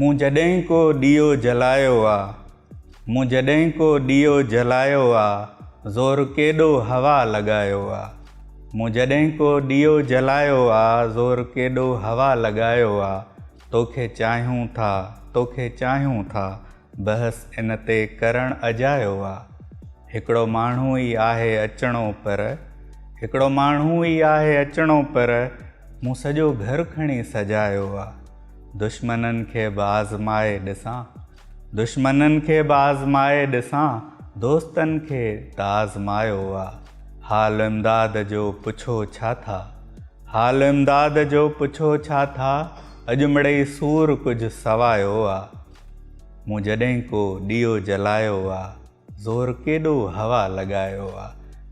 مون جڏهن ڪو ڏيئو جلايو آ. مون جڏهن ڪو ڏيئو جلايو آ. زور ڪيڏو هوا لڳايو آ. مون جڏهن ڪو ڏيئو جلايو آ. زور ڪيڏو هوا لڳايو آ. توکي چاهيون ٿا، توکي چاهيون ٿا. بحث ان تي ڪرڻ اجايو آ. هڪڙو ماڻهو ئي آهي اچڻو پر هڪڙو ماڻهو ئي آهي اچڻو پر مون سڄو گهر کڻي سجايو آ. دشمنن کي به آزمائي ڏسان دشمنن کي به آزمائي ڏسان دوستن کي ته آزمايو آ. حال امداد جو پڇو ڇا ٿا حال امداد جو پڇو ڇا ٿا اڄ مڙئي سور ڪجهه سوايو آ. مون جڏهن ڪو ڏيئو جلايو آ زور ڪيڏو هوا لڳايو آ.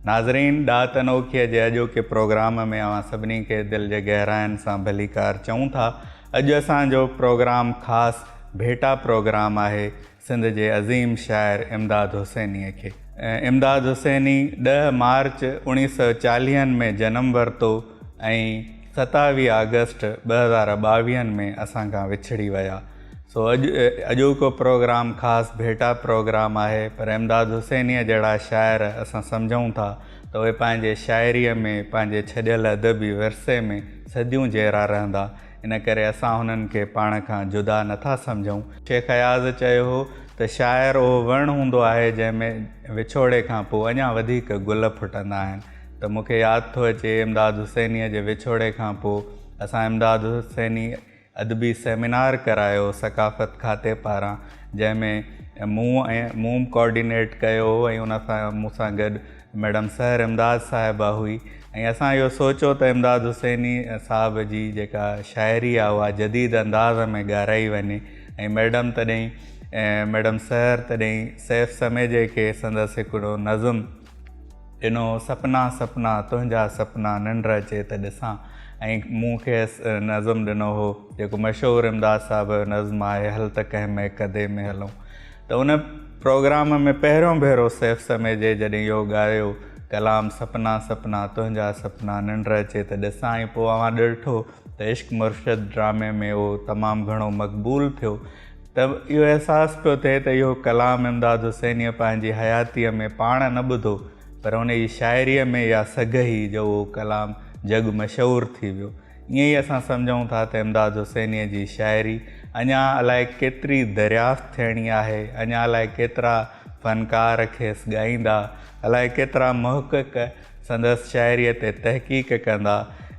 ناظرين ڏات انوکيء جي اڄوڪي پروگرام ۾ اوهان سڀني کي دل جي گهراين سان ڀليڪار چئون ٿا. اڄ اسان جو پروگرام خاص ڀيٽا پروگرام آهي سنڌ جي عظيم شاعر امداد حسينيء کي. امداد حسيني ڏهه مارچ اوڻيهه سؤ چاليهن ۾ جنم ورتو ۽ ستاويهه آگسٽ ٻه هزار ٻاويهن ۾ اسان کان وڇڙي ويا سو اڄ اڄوڪو پروگرام خاص ڀيٽا پروگرام آهي پر امداد حسينيء جهڙا شاعر اسان سمجهون ٿا ته اهي پنهنجي شاعريء ۾ پنهنجي ڇڏيل ادبي ورثي ۾ صديون جيئرا رهندا ان ڪري اسان هنن کي پاڻ کان جدا نه ٿا سمجهون. شيخ اياز چيو هو ته شاعر اهو وڻ هوندو آهي جنهن ۾ وڇوڙي کان پوء اڃا وڌيڪ گل ڦٽندا آهن ته مون کي ياد ٿو اچي امداد حسينيء جي وڇوڙي کان پوء اسان امداد حسيني ادبي سيمينار ڪرايو ثقافت کاتي پاران جنهن ۾ مون ۽ مون ڪوآرڊينيٽ ڪيو هو ۽ ان سان مون سان گڏ ميڊم سحر امداد صاحبه هئي ۽ اسان اهو سوچو ته امداد حسيني صاحب جي جيڪا شاعري آهي اها جديد انداز ۾ ڳارائي وڃي ۽ ميڊم تڏهن ميڊم سحر تڏهن سيف سميجي کي سندس هڪڙو نظم ڏنو، سپنا سپنا تنهنجا سپنا ننڊ اچي ته ڏسان ۽ مون کيس نظم ڏنو هو جيڪو مشهور امداد صاحب جو نظم آهي هل ته ڪنهن ميڪدي ۾ هلون ته ان پروگرام ۾ پهريون ڀيرو سيف سميجي جڏهن اهو ڳايو ڪلام سپنا سپنا تنهنجا سپنا ننڊ اچي ته ڏسان ۽ پوء اوهان ڏرٺو ته عشق مرشد ڊرامي ۾ اهو تمام گهڻو مقبول ٿيو ته اهو احساس پيو ٿئي ته اهو ڪلام امداد حسينيء پنهنجي حياتيء ۾ پاڻ نه ٻڌو پر ان جي شاعريء ۾ اها سگهه هئي جو اهو ڪلام جڳ مشهور ٿي ويو. ائين ئي اسان سمجهون ٿا ته امداد حسينيء جي شاعري اڃا الائي ڪيتري دريافت ٿيڻي آهي، اڃا الائي ڪيترا فنڪار کيس ڳائيندا، الائي ڪيترا محقق سندس شاعريء تي تحقيق ڪندا.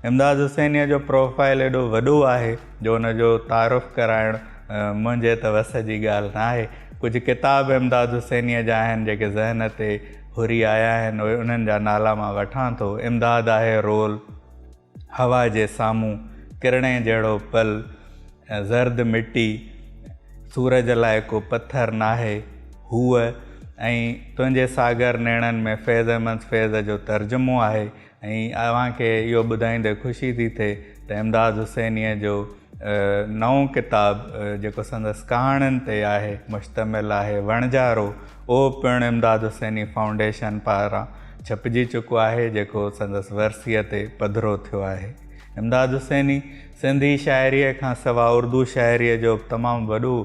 امداد حسينيء جو پروفائيل ايڏو وڏو آهي جو ان جو تعارف ڪرائڻ منهنجي ته وس جي ڳالهه ناهي. ڪجهه ڪتاب امداد حسينيء جا آهن جيڪي ذهن تي هري آيا آهن اهي انهن جا نالا مان وٺان ٿو، امداد آهي رول، هوا جي سامهون ڪرڻي جهڙو پل ۽ زرد مٽي سورج لاء ڪو پٿر ناهي. هوء ۽ تنهنجي ساگر نيڻن ۾ فيض احمد فيض جو ترجمو آهي ۽ اوهان کي اهو ٻڌائيندي خوشي ٿي ٿئي ته امداد حسينيء جو نئون ڪتاب جيڪو سندس ڪهاڻين تي آهي مشتمل آهي وڻجارو اهو پڻ امداد حسيني فائونڊيشن پاران ڇپجي چڪو آهي جيڪو سندس ورسيء تي پڌرو ٿيو آهي امداد حسيني سنڌي شاعريء کان سوا اردو شاعريء جو به تمام وڏو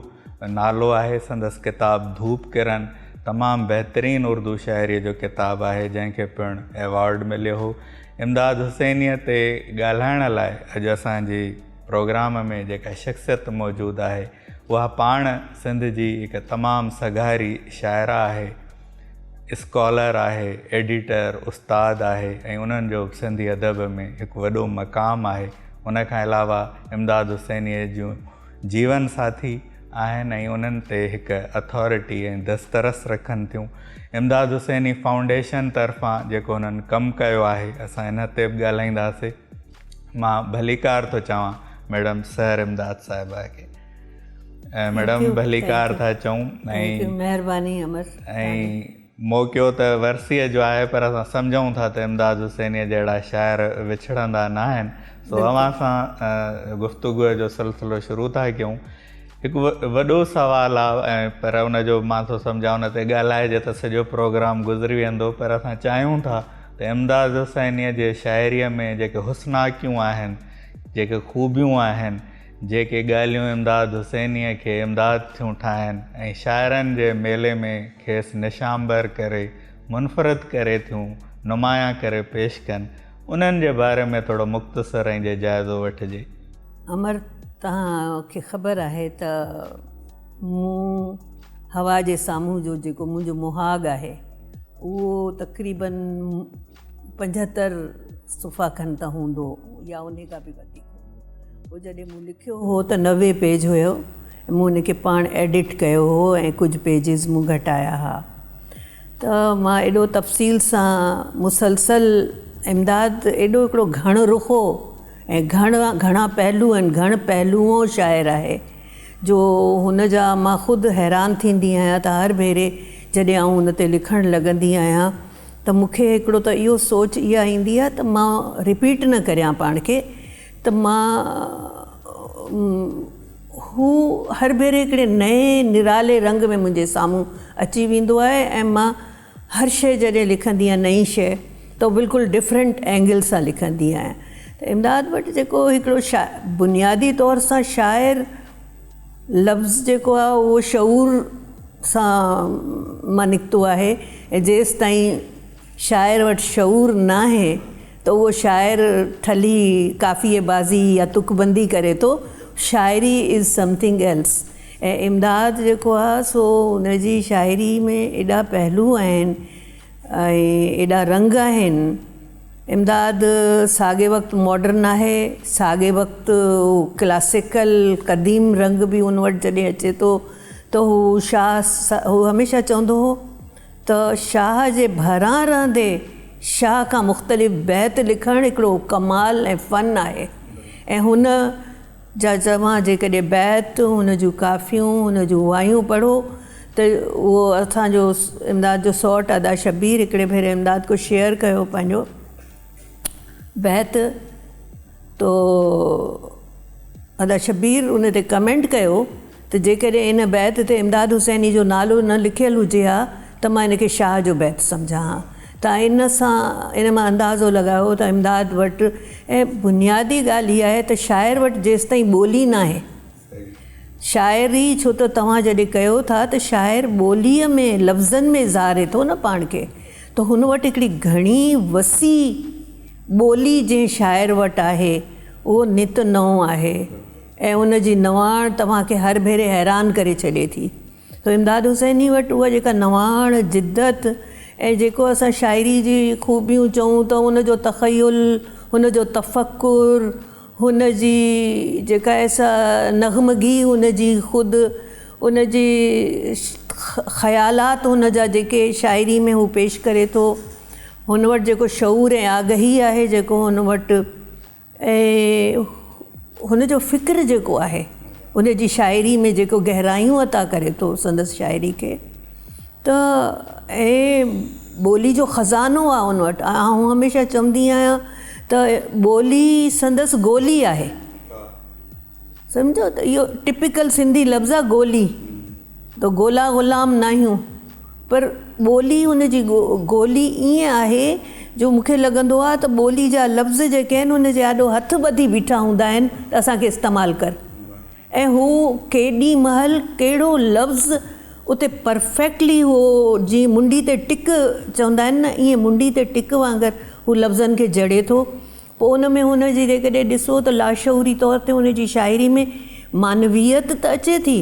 نالو آهي سندس ڪتاب ڌوپ ڪرن تمام بهترين اردو شاعريء جو ڪتاب آهي جنهن کي پڻ ايوارڊ مليو هو امداد حسينيء تي ڳالهائڻ لاء اڄ اسان جي پروگرام ۾ جيڪا شخصيت موجود آهي اها پاڻ سنڌ جي هڪ تمام سگهاري شاعره آهي اسڪالر آهي ايڊيٽر استاد آهي ۽ انهن جو سنڌي ادب ۾ هڪ وڏو مقام آهي ان کان علاوه امداد حسينيء جون جيون ساٿي آهن ۽ انهن تي هڪ اٿارٽي ۽ دسترس رکن ٿيون. امداد حسيني فائونڊيشن طرفان جيڪو انهن ڪم ڪيو آهي اسان ان تي به ڳالهائينداسي. مان ڀليڪار ٿو چوان ميڊم سحر امداد صاحبه کي. ميڊم ڀليڪار ٿا چئون ۽ مهرباني امر ۽ موقعو ته ورسيء جو آهي پر اسان سمجهون ٿا ته امداد حسينيء جهڙا شاعر وڇڙندا نه آهن سو اوهان سان گفتگوء جو سلسلو شروع ٿا ڪيون. هڪ وڏو سوال آ پر ان جو مان ٿو سمجهان ان تي ڳالهائجي ته سڄو پروگرام گذري ويندو پر اسان چاهيون ٿا ته امداد حسينيء جي شاعريء ۾ جيڪي حسناڪيون آهن جيڪي خوبيون آهن جيڪي ڳالهيون امداد حسينيء کي امداد ٿيون ٺاهن ۽ شاعرن جي ميلي ۾ کيس نشانبر ڪري منفرد ڪري ٿيون نمايان ڪري پيش ڪن، انهن جي باري ۾ ٿورو مختصر ائين جي جائزو وٺجي. امر، توهان کي خبر آهي ته مون هوا جي سامهون جو جيڪو منهنجو مهاڳ آهي اهو تقريبن. پنجهتر صفحا کن ته هوندو يا انهي کان به وڌيڪ هوندو جڏهن مون لکيو هو ته نوي پيج هيو مون ان کي پاڻ ايڊٽ ڪيو هو ۽ ڪجهه پيجز مون گهٽايا ها ته مان ايڏو تفصيل سان مسلسل امداد ايڏو هڪڙو گهڻ رخو ۽ گهڻ گهڻا پهلو ۽ گهڻ پهلوئو شاعر آهي جو هن جا مان خود حيران ٿيندي آهيان ته هر ڀيري جڏهن آئون ان تي لکڻ لڳندي آهيان ته مون کي هڪڙو ته اهو سوچ اها ايندي آهي ته مان رپيٽ نه ڪريان پاڻ کي ته مان هو هر ڀيري هڪڙي نئين نرالي رنگ ۾ منهنجي سامهون اچي ويندو آهي ۽ مان هر شيء جڏهن لکندي آهيان نئين شيء ته بلڪل ڊفرنٽ اينگل سان لکندي آهيان ته امداد وٽ جيڪو هڪڙو شاعر بنيادي طور سان شاعر لفظ جيڪو آهي اهو شعور سان مان نڪتو آهي ۽ جيستائين شاعر وٽ شعور ناهي ته اهو شاعر ٺلهي قافيي بازي يا تڪ بندي ڪري ٿو، شاعري از سمٿنگ ايلس ۽ امداد جيڪو آهي سو ان جي شاعري ۾ ايڏا پهلو آهن ۽ ايڏا رنگ آهن. امداد ساڳئي وقت ماڊرن آهي، ساڳئي وقت هو ڪلاسيڪل، قديم، رنگ به هن وٽ جڏهن اچي ٿو ته هو شاهه هو هميشه چوندو هو ته شاهه جي ڀران رهندي شاهه کان مختلف بيت لکڻ هڪڙو ڪمال ۽ فن آهي ۽ هن جا توهان جيڪڏهن بيت، ان جون ڪافيون، ان جون وايون پڙهو ته اهو اسان جو امداد جو سئوٽ ادا شبير هڪڙي ڀيري امداد ڪو شعر ڪيو پنهنجو بيت تو ادا شبير ان تي ڪمينٽ ڪيو. ته جيڪڏهن ان بيت تي امداد حسيني جو نالو نه لکيل هجي ها ته مان ان کي شاهه جو بيت سمجهان ها. توهان ان سان ان مان اندازو لڳايو ته امداد وٽ ۽ بنيادي ڳالهه هي آهي ته شاعر وٽ جيستائين ٻولي ناهي شاعري ڇو ته توهان جڏهن ڪيو ٿا ته شاعر ٻوليء ۾ لفظن ۾ اظهاري ٿو نه پاڻ کي ته هن وٽ هڪڙي گهڻي وسيع ٻولي جنهن شاعر وٽ آهي اهو نت نئون آهي. ۽ ان جي نواڻ توهان کي هر ڀيري حيران ڪري ڇڏي ٿي. سو امداد حسيني وٽ اها جيڪا نواڻ، جدت ۽ جيڪو اسان شاعري جي خوبيون چئون ته هن جو تخيل، هن جو تفڪر، هن جي جيڪا ايسا نغمگي هن جي خود ان جي خيالات هن جا جيڪي شاعري ۾ هو پيش ڪري ٿو، هن وٽ جيڪو شعور ۽ آگهي آهي جيڪو هن وٽ. ۽ هن جو فڪر جيڪو آهي ان جي شاعري ۾ جيڪو گهرايون عطا ڪري ٿو سندس شاعري کي ته ۽ ٻولي جو خزانو آهي ان وٽ آئون هميشه چوندي آهيان ته ٻولي سندس گولي آهي سمجهو ته اهو ٽپيڪل سنڌي لفظ آ گولي تو گولا غلام ناهيون پر ٻولي ان جي گولي ائين آهي جو مون کي لڳندو آ ته ٻولي جا لفظ جيڪي آهن ان جي آڏو هٿ ٻڌي بيٺا هوندا آهن ته اسان کي استعمال ڪر ۽ هو ڪيڏي مهل ڪهڙو لفظ اتي پرفيڪٽلي هو جيئن منڊي تي ٽڪ چوندا آهن نه ائين منڊي تي ٽڪ وانگر هو لفظن کي جڙي ٿو پوء ان ۾ هن جي جيڪڏهن ڏسو ته لاشعوري طور تي هن جي شاعري ۾ معنويت ته اچي ٿي،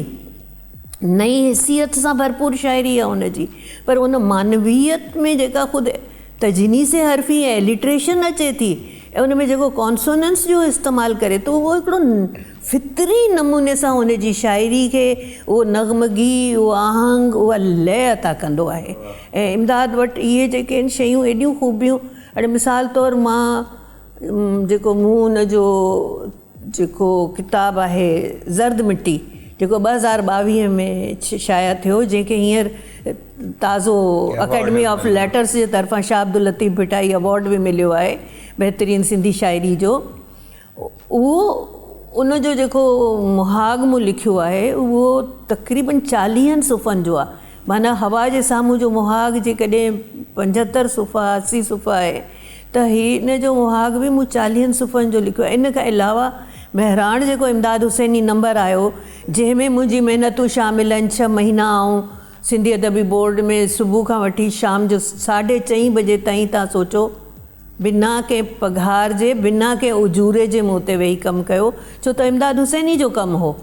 نئين حسيت سان ڀرپور شاعري آهي هن جي، پر ان معنويت ۾ جيڪا خود تجنيس حرفي ۽ اليٽريشن اچي ٿي ۽ ان ۾ جيڪو ڪانسوننس جو استعمال ڪري ٿو اهو هڪڙو فطري نموني سان هن جي شاعري کي اهو نغمگي، اهو آهنگ، اها لئه عطا ڪندو آهي ۽ امداد وٽ اهي جيڪي آهن شيون ايڏيون خوبيون. اڙي مثال طور مان جيڪو مون ان جو جيڪو ڪتاب آهي زرد مٽي جيڪو ٻه هزار ٻاويهه ۾ شايع ٿيو جنهن کي هينئر تازو اڪيڊمي آف ليٽرس جي طرفان شاهه عبداللطيف ڀٽائي ايوارڊ به مليو آهي بهترين سنڌي شاعري جو اهو ان جو جيڪو مهاڳ مون لکيو آهي اهو تقريبن چاليهن صفحن جو آهي معنيٰ هوا جي سامهون جو مهاڳ جيڪڏهن پنجهتر صفحا اسي صفحا آهي ته هي ان جو مهاڳ به مون چاليهن صفحن جو لکيو آهي ان کان علاوه مهراڻ جيڪو امداد حسيني نمبر آيو جنهن ۾ منهنجي محنتون شامل آهن ڇهه مهينا آئون سنڌي ادبي بورڊ ۾ صبح کان وٺي شام جو ساڍي چئين بجي تائين تان سوچو بنا ڪنهن پگهار جي بنا ڪنهن اجوري جي مون تي ويهي ڪم ڪيو ڇو ته امداد حسيني جو ڪم هو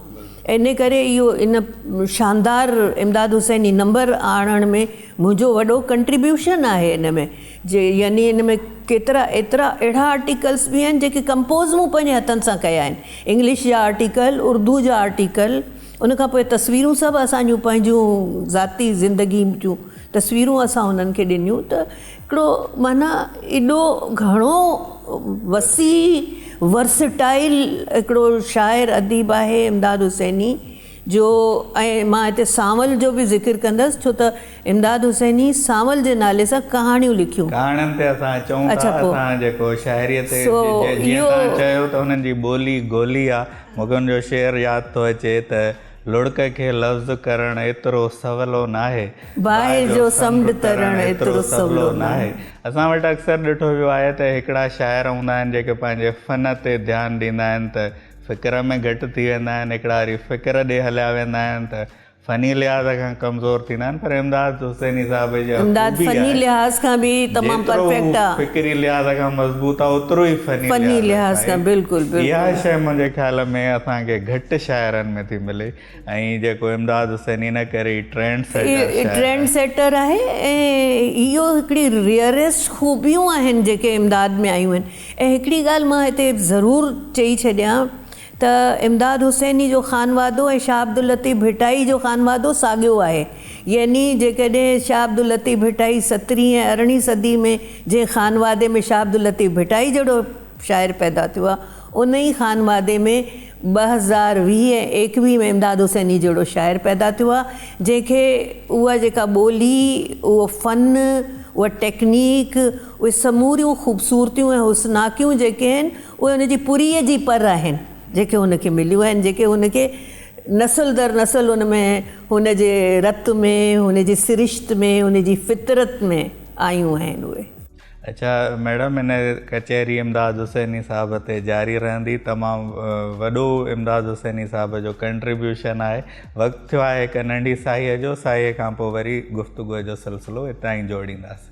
ان ڪري اهو ان شاندار امداد حسيني نمبر آڻڻ ۾ منهنجو وڏو ڪنٽريبيوشن آهي ان ۾ جي يعني ان ۾ ڪيترا ايترا اهڙا آرٽيڪلس به آهن جيڪي ڪمپوز مون پنهنجي هٿن سان ڪيا آهن انگلش جا آرٽيڪل اردو جا آرٽيڪل ان کان پوء تصويرون سڀ اسان جون پنهنجون ذاتي زندگي جون تصويرون اسان انهن کي ڏنيون ته هڪڙو معنيٰ ايڏو گهڻو وسيع ورسٽائل هڪڙو شاعر اديب آهي امداد حسيني جو ۽ مان هتي سانول جو به ذڪر ڪندس ڇو ته امداد حسيني سانول جي نالي سان ڪهاڻيون لکيون. ڪهاڻين تي اسان اچون ٿا اسان جيڪو شاعريء تي جيئن تهان چيو ته هنن جي ٻولي گولي آ مغن جو شعر ياد ٿو اچي ته. لڙڪ کي لفظ ڪرڻ ايترو سولو ناهي. باهه جو سمنڊ ترڻ ايترو سولو ناهي. اسان وٽ اڪثر ڏٺو ويو آهي ته هڪڙا شاعر هوندا آهن جيڪي پنهنجي فن تي ڌيان ڏيندا آهن ته فڪر ۾ گهٽ ٿي ويندا آهن هڪڙا وري فڪر ڏي هليا ويندا آهن ته فني لحاظ کان ڪمزور ٿيندا آهن پر امداد حسيني صاحب جا خوبي آهي. امداد فني لحاظ کان به تمام پرفيڪٽ آهي. جيترو هو فڪري لحاظ کان مضبوط آهي اوترو ئي فني لحاظ کان آهي. فني لحاظ کان بلڪل بلڪل. اها شيء منهنجي خيال ۾ اسان کي گهٽ شاعرن ۾ ٿي ملي ۽ جيڪو امداد حسيني ان ڪري ئي ٽرينڊ سيٽر شاعر آهي. ٽرينڊ سيٽر آهي ۽ اهو هڪڙي ريئريسٽ خوبيون آهن جيڪي امداد ۾ آيون آهن ۽ هڪڙي ڳالهه مان هتي ضرور چئي ڇڏيان. ته امداد حسيني جو خانوادو ۽ شاهه عبداللطيف ڀٽائي جو خانوادو ساڳيو آهي. يعني جيڪڏهن شاهه عبداللطيف ڀٽائي سترهين ۽ ارڙهين صدي ۾ جنهن خانوادي ۾ شاهه عبداللطيف ڀٽائي جهڙو شاعر پيدا ٿيو آهي، انهي خانوادي ۾ ٻه هزار ويهه ۽ ايڪويهه ۾ امداد حسيني جهڙو شاعر پيدا ٿيو آهي، جنهن کي اها جيڪا ٻولي، اهو فن، اها ٽيڪنيڪ، اهي سموريون خوبصورتيون ۽ حسناڪيون جيڪي آهن، اهي هن جي پورهيي جي پر آهن جيڪي هن کي مليون آهن جيڪي هن کي نسل در نسل هن ۾ هن جي رت ۾ هن جي سرشت ۾ هن جي فطرت ۾ آيون آهن اهي. اچا ميڊم هن ڪچهري امداد حسيني صاحب تي جاري رهندي تمام وڏو امداد حسيني صاحب جو ڪنٽريبيوشن آهي وقت ٿيو آهي هڪ ننڍي ساهيء جو ساهيء کان پوء وري گفتگوء جو سلسلو هتان ئي جوڙينداسين.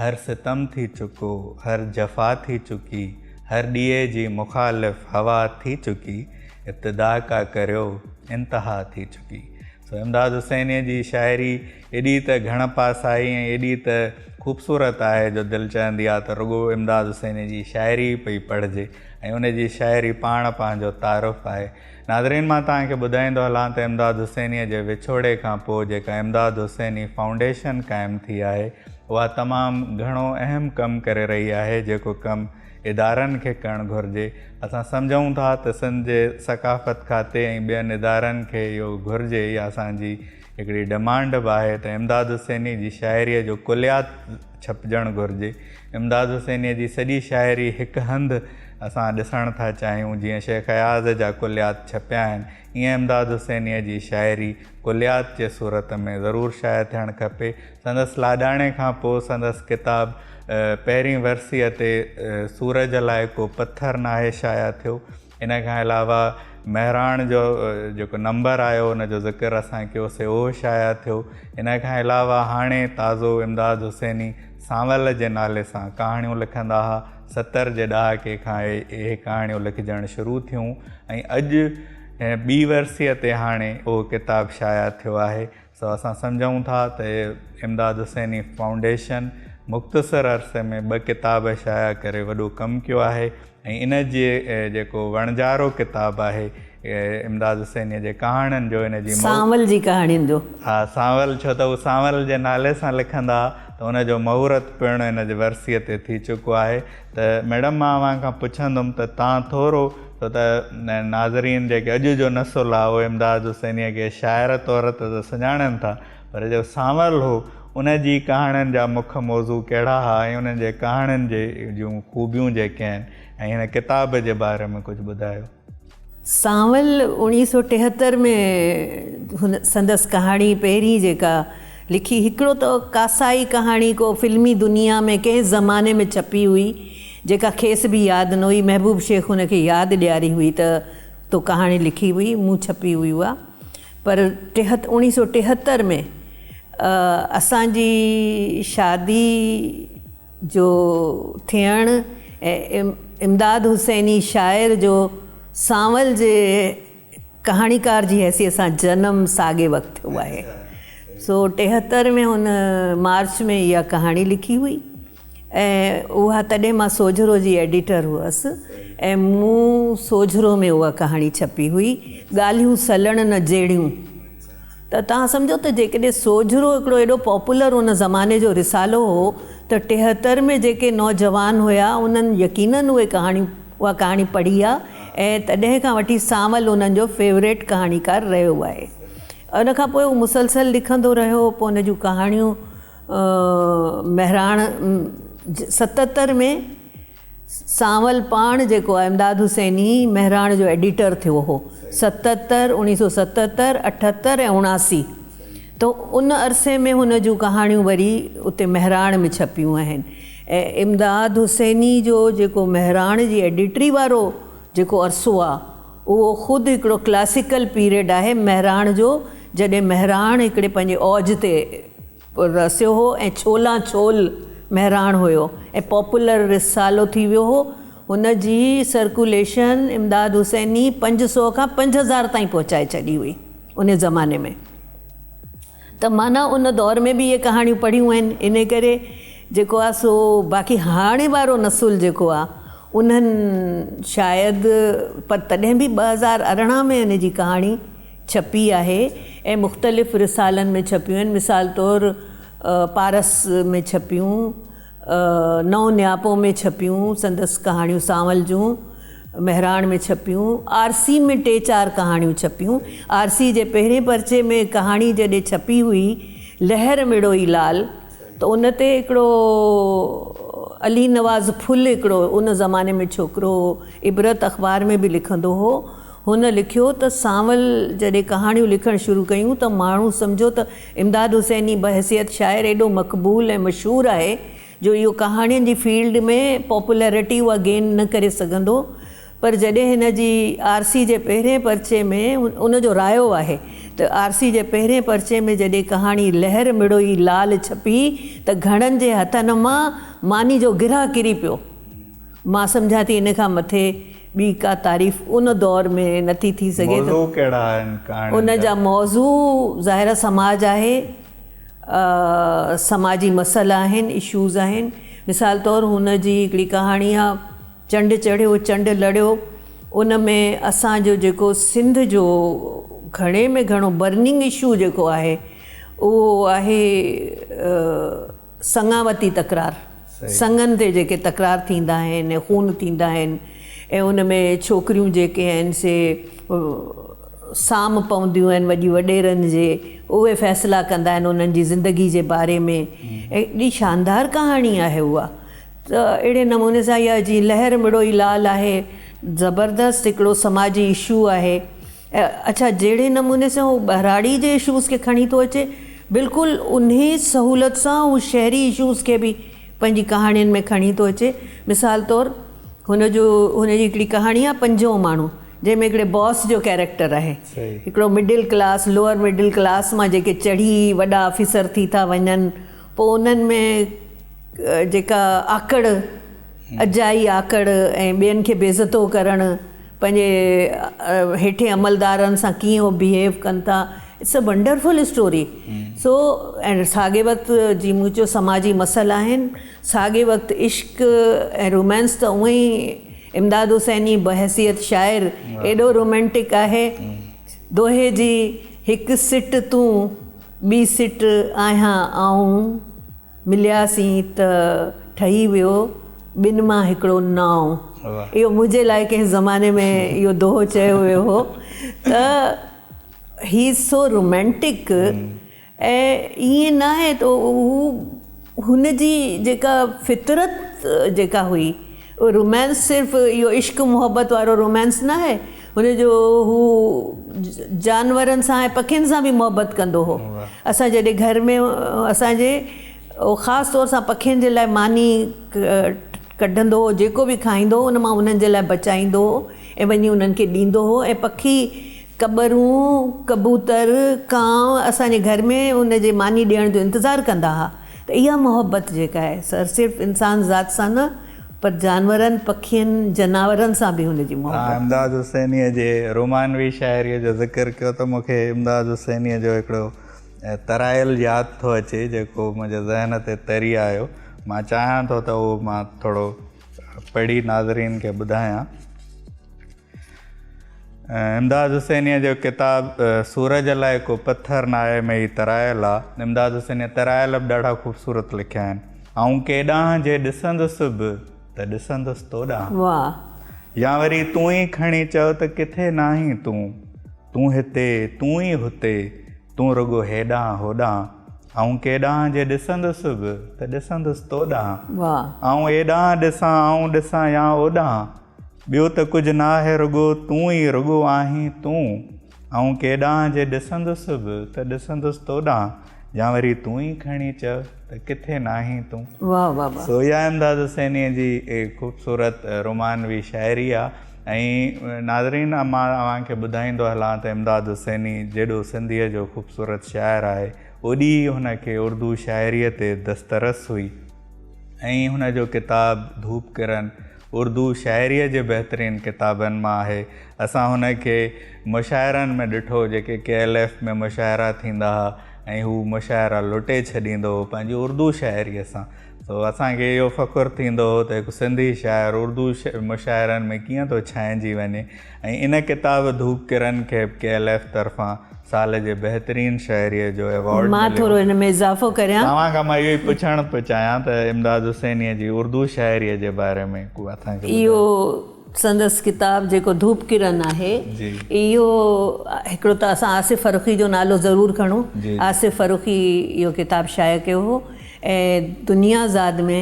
هر ستم ٿي چڪو، هر جفا ٿي چڪي، هر ڏيئي جي مخالف هوا ٿي چڪي، ابتدا ڪا ڪريو، انتها ٿي چڪي. سو امداد حسينيء جي شاعري ايڏي ته گهڻ پاسائي ۽ ايڏي ته خوبصورت آهي جو دل چاهندي آهي ته رڳو امداد حسينيء جي شاعري ئي پئي پڙهجي ۽ ان جي شاعري پاڻ پنهنجو تعارف آهي. ناظرين مان توهان کي ٻڌائيندو هلان ته امداد حسينيء جي وڇوڙي کان پوء جيڪا امداد حسيني فائونڊيشن قائم ٿي آهي اها تمام گهڻو اهم ڪم ڪري رهي آهي جيڪو ڪم ادارن کي ڪرڻ گهرجي اسان سمجهون ٿا ته سنڌ جي ثقافت کاتي ۽ ٻين ادارن کي اهو گهرجي اها اسان جي هڪڙي ڊمانڊ به آهي ته امداد حسيني جي شاعريء جو ڪليات ڇپجڻ گهرجي. امداد حسينيء جي سڄي شاعري هڪ هنڌ اسان ڏسڻ ٿا چاهيون، جيئن شيخ اياز جا ڪليات ڇپيا آهن، ايئن امداد حسينيء جي شاعري ڪليات جي صورت ۾ ضرور شايع ٿيڻ کپي. سندس لاڏاڻي کان پوء سندس ڪتاب پهرين ورسيء تي سورج لاء ڪو پٿر ناهي شايع ٿيو. ان کان علاوه مهراڻ جو جيڪو نمبر آيو ان جو ذڪر اسان ڪيو سي اهو شايع ٿيو ان کان علاوه هاڻي تازو امداد حسيني سانول جي نالي سان ڪهاڻيون لکندا ها ستر جي ڏهاڪي کان اهي ڪهاڻيون لکجڻ شروع ٿيون ۽ اڄ ٻي ورسيء تي هاڻي اهو ڪتاب شايع ٿيو آهي سو اسان سمجهون ٿا ته امداد حسيني فائونڊيشن مختصر عرصي ۾ ٻه ڪتاب شايع ڪري وڏو ڪم ڪيو آهي ۽ ان جي جيڪو وڻجارو ڪتاب آهي امداد حسيني جي ڪهاڻين جو ان جي مهور سانول جي ڪهاڻين جو. ها سانول ڇو ته هو سانول جي نالي سان لکندا ته ان جو مهورت پڻ ان جي ورسيء تي ٿي چڪو آهي. ته ميڊم مان اوهان کان پڇندم ته تان ٿورو سو ته ناظرين جيڪي اڄ جو نسل آهي اهي امداد حسينيء کي شاعر طور ته ته سڃاڻن ٿا پر جيڪو سانول هو ان جي ڪهاڻين جا مک موضوع ڪهڙا ها ۽ انهن جي ڪهاڻين جي جون خوبيون جيڪي آهن ۽ هن ڪتاب جي باري ۾ ڪجهه ٻڌايو. سانول اوڻيهه سؤ ٽيهتر ۾ هن سندس ڪهاڻي پهرين جيڪا لکي هڪڙو ته ڪاسائي ڪهاڻي ڪو فلمي دنيا ۾ ڪنهن زماني ۾ ڇپي هئي جيڪا کيس به ياد نه هئي محبوب شيخ هن کي ياد ڏياري هئي ته تو ڪهاڻي لکي هئي مون ڇپي هئي اها پر ٽيهت اوڻيهه سؤ ٽيهتر ۾ اسان جي شادي جو ٿيڻ ۽ امداد حسيني شاعر جو سانول جي ڪهاڻيڪار جي حيثيت سان جنم ساڳي وقت ٿيو آهي سو ٽيهتر ۾ هن مارچ ۾ اها ڪهاڻي لکي هئي ۽ اها تڏهن مان سوجهرو جي ايڊيٽر هئس ۽ مون سوجهرو ۾ اها ڪهاڻي ڇپي هئي ڳالهيون سلڻ نه جهڙيون. ته توهان سمجهو ته جيڪڏهن سوجهرو هڪڙو ايڏو پاپولر ان زماني جو رسالو هو ته ٽيهتر ۾ جيڪي نوجوان هيا انهن يقينن اهي ڪهاڻي اها ڪهاڻي پڙهي آ ۽ تڏهن کان وٺي سانول انهن جو فيوريٽ ڪهاڻيڪار رهيو آهي ان کان پوء هو مسلسل لکندو رهيو پوء ان جون ڪهاڻيون مهراڻ ستتر ۾ سانول پاڻ جيڪو آهي امداد حسيني مهراڻ جو ايڊيٽر ٿيو هو ستتر، اڻيهه سو ستتر، اٺتر ۽ اڻاسي تو ان عرصي ۾ هن جون ڪهاڻيون وري اتي مهراڻ ۾ ڇپيون آهن ۽ امداد حسيني جو جيڪو مهراڻ جي ايڊيٽري وارو جيڪو عرصو آ اهو خود هڪڙو ڪلاسيڪل پيريڊ آهي مهراڻ جو جڏهن مهراڻ هڪڙي پنهنجي اوج تي رسيو هو ۽ ڇولان ڇول مهراڻ هيو ۽ پاپولر رسالو ٿي ويو هو. هن جي سرڪوليشن امداد حسيني پنج سؤ کان پنج هزار تائين پهچائي ڇڏي هئي انهي زماني ۾ ته معنيٰ ان دور ۾ به اهي ڪهاڻيون پڙهيون آهن انهي ڪري جيڪو آهي سو باقي هاڻي وارو نسل جيڪو آهي انهن شايد پر تڏهن به ٻه هزار ارڙهن ۾ ان جي ڪهاڻي ڇپي آهي ۽ مختلف رسالن ۾ ڇپيون آهن، مثال طور پارس ۾ ڇپيون، نئون نياپو ۾ ڇپيون، سندس ڪهاڻيون سانول جون، مهراڻ ۾ ڇپيون، آرسي ۾ ٽي چار ڪهاڻيون ڇپيون، آرسي جي پهرين پرچي ۾ ڪهاڻي جڏهن ڇپي هئي لهر مڙوئي لال ته ان تي هڪڙو علي نواز ڦل هڪڙو ان زماني ۾ ڇوڪرو هو عبرت اخبار ۾ به لکندو هو، هن لکيو ته سانول جڏهن ڪهاڻيون لکڻ شروع ڪيون ته ماڻهو سمجهيو ته امداد حسيني بحيثيت شاعر ايڏو مقبول ۽ مشهور آهي جو اهو ڪهاڻين جي فيلڊ ۾ پاپولرٽي اها گين نه ڪري سگهندو پر جڏهن هن جي آرسي جي پهرين پرچي ۾. ان جو رايو آهي ته آرسي جي پهرين پرچي ۾ جڏهن ڪهاڻي لهر مڙوئي لال ڇپي ته گهڻن جي هٿن مان ماني جو گرهه ڪري پيو. مان سمجهان ٿي ان کان مٿي ٻي ڪا تعريف ان دور ۾ نه ٿي ٿي سگهي ته موضوع ڪهڙا آهن ڪهاڻين ان جا؟ جا موضوع ظاهرا سماج آهي سماجي مسئلا آهن Issues آهن مثال طور هن جي هڪڙي ڪهاڻي آهي چنڊ چڙهيو چنڊ لڙيو ان ۾ اسان جو جيڪو سنڌ جو گهڻي ۾ گهڻو Burning Issue جيڪو آهي اهو آهي سڱاوتي تڪرار، سڱن تي جيڪي تڪرار ٿيندا آهن ۽ خون ٿيندا آهن ۽ ان ۾ ڇوڪريون جيڪي آهن سي سام پونديون آهن وڏي وڏيرن جي، اهي فيصلا ڪندا آهن انهن جي زندگي جي باري ۾ ايڏي شاندار ڪهاڻي آهي اها ته اهڙي نموني سان اها جي لهر مڙوئي لال آهي زبردست هڪڙو سماجي اشو آهي. اڇا جهڙي نموني سان هو ٻهراڙي جي اشوز کي کڻي ٿو اچي بلڪل انهي سهولت سان هو شهري اشوز کي به پنهنجي ڪهاڻين ۾ کڻي ٿو اچي مثال طور هن جو هن جي هڪڙي ڪهاڻي آهي پنجون ماڻهو جنهن ۾ هڪڙي باس جو ڪيريڪٽر آهي هڪڙو middle class lower middle class مان جيڪي چڙهي وڏا آفيسر ٿي ٿا وڃن پوء انهن ۾ جيڪا آڪڙ اجائي آڪڙ ۽ ٻين کي بي عزتو ڪرڻ پنهنجي هيٺين عملدارن سان ڪيئن هو بيهيو ڪن ٿا it's a wonderful story so ۽ ساڳي وقت جي مون چيو سماجي مسئلا آهن ساڳي وقت عشق ۽ رومانس ته اونئي امداد حسيني بحيثيت شاعر ايڏو رومانٽڪ آهي دوهي جي هڪ سٽ تون ٻي سٽ آهيان آئون. ملياسين ته ٺهي ويو ٻن مان هڪڙو نانء. اهو منهنجي لاء ڪنهن زماني ۾ اهو دوهو چيو ويو هو ته هي از سو رومينٽڪ ۽ ائين ناهي ته هو هن جي جيڪا فطرت جيڪا هئي. اهو رومانس صرف اهو عشق محبت وارو رومانس ناهي هن جو هو جانورن سان ۽ پکين سان به محبت ڪندو هو اسان جڏهن گهر ۾ اسان جي اهو خاص طور سان پکين جي لاء ماني ڪڍندو هو جيڪو به کائيندو هو ان مان انهن جي لاء بچائيندو هو ۽ وڃي انهن کي ڏيندو هو ۽ پکي ڪٻرون ڪبوتر ڪانء اسان جي گهر ۾ ان جي ماني ڏيڻ جو انتظار ڪندا ها ته اها محبت جيڪا آهي سا صرف انسان ذات سان نه پر جانورن، پکين، جناورن سان به هن جي محبت آهي. امداد حسينيء جي رومانوي شاعريء جو ذڪر ڪيو ته مون کي امداد حسينيء جو هڪڙو ترائيل ياد ٿو اچي جيڪو منهنجي ذهن تي تري آيو. مان چاهيان ٿو ته اهو مان ٿورو پڙهي ناظرين کي ٻڌايان. امداد حسينيء جو ڪتاب سورج لاء ڪو پٿر ناهي ۾ هي ترائيل آ. امداد حسينيء ترائيل به ڏاڍا خوبصورت لکيا آهن. آئون ڪيڏانهن جي ڏسندس به ته ڏسندس تو ڏانهن. واهه. يا وري تون ئي کڻي چئو ته ڪٿي ناهين تون. تون هتي، تون ئي هتي، تون رڳو هيڏانهن هوڏانهن. آئون ڪيڏانهن جي ڏسندس به ته ڏسندس تو ڏانهن. واهه. آئون ايڏانهن ڏسان، آئون ڏسان يا اوڏانهن. ٻيو ته ڪجهه ناهي رڳو تون ئي رڳو آهين تون آئون ڪيڏانهن جي ڏسندس به ته ڏسندس توڏانهن يا وري تون ئي کڻي چئه ته ڪٿي ناهين تون. واهه واهه واهه. سو اها امداد حسينيء جي خوبصورت رومانوي شاعري آهي ۽ ناظرين مان اوهان کي ٻڌائيندو هلان ته امداد حسيني جيڏو سنڌيء جو خوبصورت شاعر آهي اوڏي ئي هن کي اردو شاعريء تي دسترس هئي. ائين هن جو ڪتاب ڌوپ ڪرن اردو شاعريء جي بهترين ڪتابن مان آهي. اسان هن کي مشاعرن ۾ ڏٺو جيڪي ڪي ايل ايف ۾ مشاعرا ٿيندا ها ۽ هو مشاعرا لٽي ڇڏيندو هو پنهنجي اردو شاعريء سان. سو اسان کي اهو فخر ٿيندو هو ته هڪ سنڌي شاعر اردو مشاعرن ۾ ڪيئن ٿو ڇائنجي وڃي. ۽ ان ڪتاب ڌوپ ڪرن کي به ڪي ايل ايف طرفان سال جي بهترين شهريء جو ايوارڊ مليو. مان ٿورو ان ۾ اضافو ڪريان. توهان کان مان اهو ئي پڇڻ پيو چاهيان ته امداد حسينيء جي اردو شاعريء جي باري ۾ ڪو اٿان کي ٻڌايو. اهو سندس ڪتاب جيڪو ڌوپ ڪرن آهي اهو هڪڙو ته اسان آصف فرخي جو نالو ضرور کڻون آصف فرخي اهو ڪتاب شايع ڪيو هو ۽ دنيا زاد ۾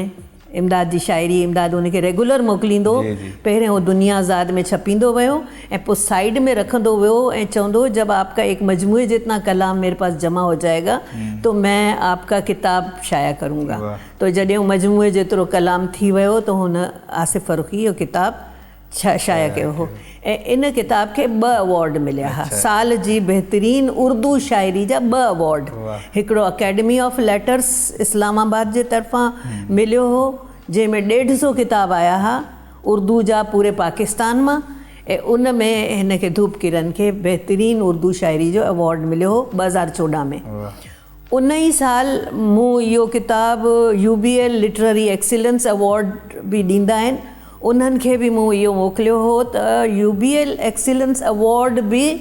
امداد جي شاعري امداد ان کي ريگولر موڪليندو هو. پهرين هو دنيا آزاد ۾ ڇپيندو ويو ۽ پوء سائيڊ ۾ رکندو ويو ۽ چوندو هو جب آپ ڪا ايڪ مجموعي جتنا ڪلام ميري پاس جمع هو جائي گا تو مين آپ ڪا ڪتاب شايع ڪرون گا. تو جڏهن هو مجموعي جيترو ڪلام ٿي ويو ته هن آصف فرخي جو ڪتاب شايع ڪيو هو ۽ ان ڪتاب کي ٻه اوارڊ مليا ها، سال جي بهترين اردو شاعري جا ٻه اوارڊ، هڪڙو Academy of Letters Islamabad جي طرفان مليو هو، جنهن ۾ ڏيڍ سو ڪتاب آيا ها اردو جا پوري پاڪستان مان ۽ ان ۾ هن کي ڌوپ ڪرن کي بهترين اردو شاعري جو اوارڊ مليو هو ٻه هزار چوڏهن ۾. ان ئي سال مون اهو ڪتاب U B L literary excellence award به ڏيندا آهن انهن کي به مون اهو موڪليو هو ته U B L excellence award به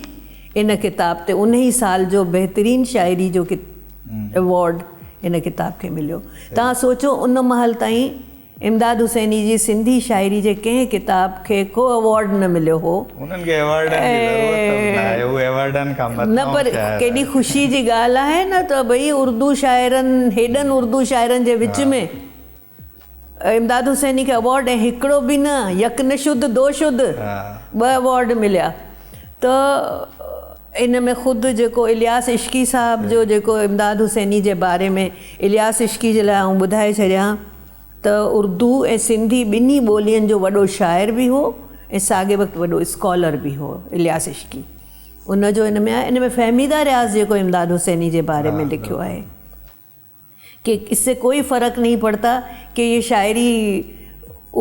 ان ڪتاب تي ان ئي سال جو بهترين شاعري جو ايوارڊ ان ڪتاب کي مليو تان سوچو ان مهل تائين امداد حسيني جي سنڌي شاعري جي ڪنهن ڪتاب کي ڪو ايوارڊ نه مليو هو. هنن کي ايوارڊن جي ضرورت به نه آهي، هو ايوارڊن کان مٿانهون شاعر آهن. نه پر ڪيڏي خوشي جي ڳالهه آهي نه ته ڀئي اردو شاعرن، هيڏن اردو شاعرن جي وچ ۾ امداد حسيني کي ايوارڊ ۽ هڪڙو به نه، يڪ نه شد دو شد ٻه ايوارڊ مليا ته. ان ۾ خود جيڪو الياس عشقي صاحب جو جيڪو امداد حسيني جي باري ۾ الياس عشقي جي لاء آئون ٻڌائي ڇڏيان ته اردو ۽ سنڌي ٻنهي ٻولين جو وڏو شاعر به هو ۽ ساڳي وقت وڏو اسڪالر به هو الياس عشقي ان جو ان ۾ آهي ان ۾ فهميده رياض جيڪو امداد حسيني جي باري ۾ لکيو آهي. کي اس سي ڪوئي فرق نهين پڙتا ڪي يه شاعري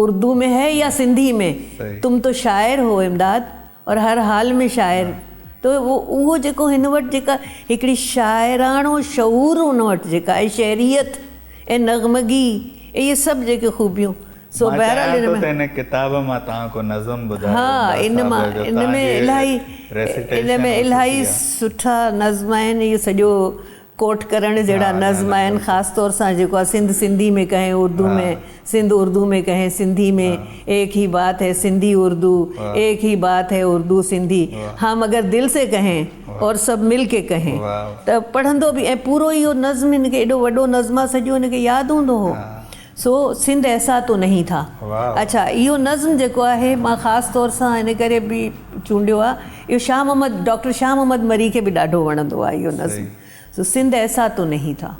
اردو مين هي يا سنڌي مين تم تو شاعر هو امداد اور هر حال مين شاعر تو اهو جيڪو هن وٽ جيڪا هڪڙي شاعراڻو شعور هن وٽ جيڪا آهي شعريت ۽ نغمگي ۽ يه سڀ جيڪي خوبيون سو بهرحال ان ۾ مان چاهيان ٿو ته هن ڪتاب مان توهان ڪو نظم ٻڌايو امداد صاحب جو توهان جي ريسٽيشن ۽ خوشي آهي. ڪوٽ ڪرڻ جهڙا نظم آهن خاص طور سان جيڪو آهي سنڌ سنڌي ۾ ڪهين اردو ۾ سنڌ اردو ۾ ڪهين سنڌي ۾ ايڪ هي بات هي سنڌي اردو ايڪ هي بات هي اردو سنڌي هم اگر دل سي ڪهين اور سڀ مل ڪي ڪهين ته پڙهندو به ۽ پورو اهو نظم هن کي ايڏو وڏو نظم آهي سڄو هن کي ياد هوندو هو سو سنڌ ايسا تو نهين ٿا. اڇا اهو نظم جيڪو آهي مان خاص طور سان ان ڪري به چونڊيو آ اهو شاهه محمد ڊاڪٽر شاهه محمد مري کي به ڏاڍو وڻندو آ اهو نظم سو سنڌ ايسا تو نهين ٿا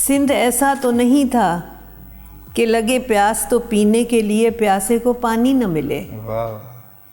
سنڌ ايسا تو نهين ٿا ڪي لڳي پياس تو پيني ڪي ليئي پياسي ڪو پاني نه ملي.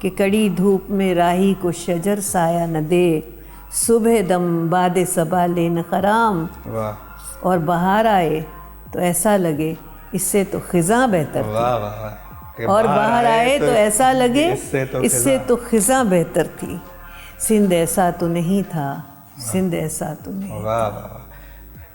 ڪي ڪڙي ڌوپ ۾ راهي ڪو شجر سايه نه دي صبح دم باد صبا لين خرام اور بهار آئي تو ايسا لگي اس سي تو خزان بهتر ٿي اور بهار آئي تو ايسا لگي اس سي تو خزان بهتر ٿي سنڌ ايسا تو نهين ٿا سنڌ ايسا تو نهين ٿا. واھ واھ واھ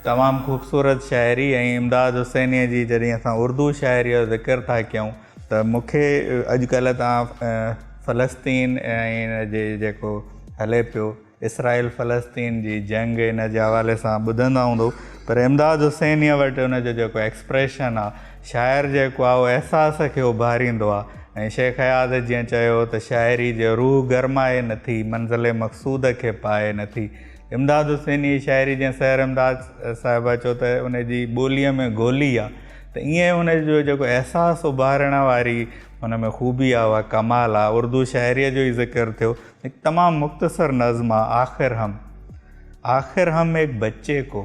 تمام خوبصورت شاعري ۽ امداد حسينيء جي جڏهن اسان اردو شاعريء جو ذڪر ٿا ڪيون ته مون کي اڄ ڪلهه توهان فلسطين ۽ ان جي جيڪو هلي پيو اسرائيل فلسطين جي جنگ ان جي حوالي سان ٻڌندا هوندو پر امداد حسينيء وٽ ان جو جيڪو ايڪسپريشن آ شاعر جيڪو آ اهو احساس کي اڀاريندو آ ۽ شيخ اياز جيئن چيو هو ته شاعري جي روح گرمائي نٿي منزل مقصود کي پائي نٿي امداد حسين اهي شاعري جنهن سحر امداد صاحبه چيو ته ان جي ٻوليء ۾ گولي آ ته ايئن هن جو جيڪو احساس اڀارڻ واري هن ۾ خوبي آ اها ڪمال آ اردو شاعريء جو ئي ذڪر ٿيو هڪ تمام مختصر نظم آ آخر هم آخر هم ايڪ بچي ڪو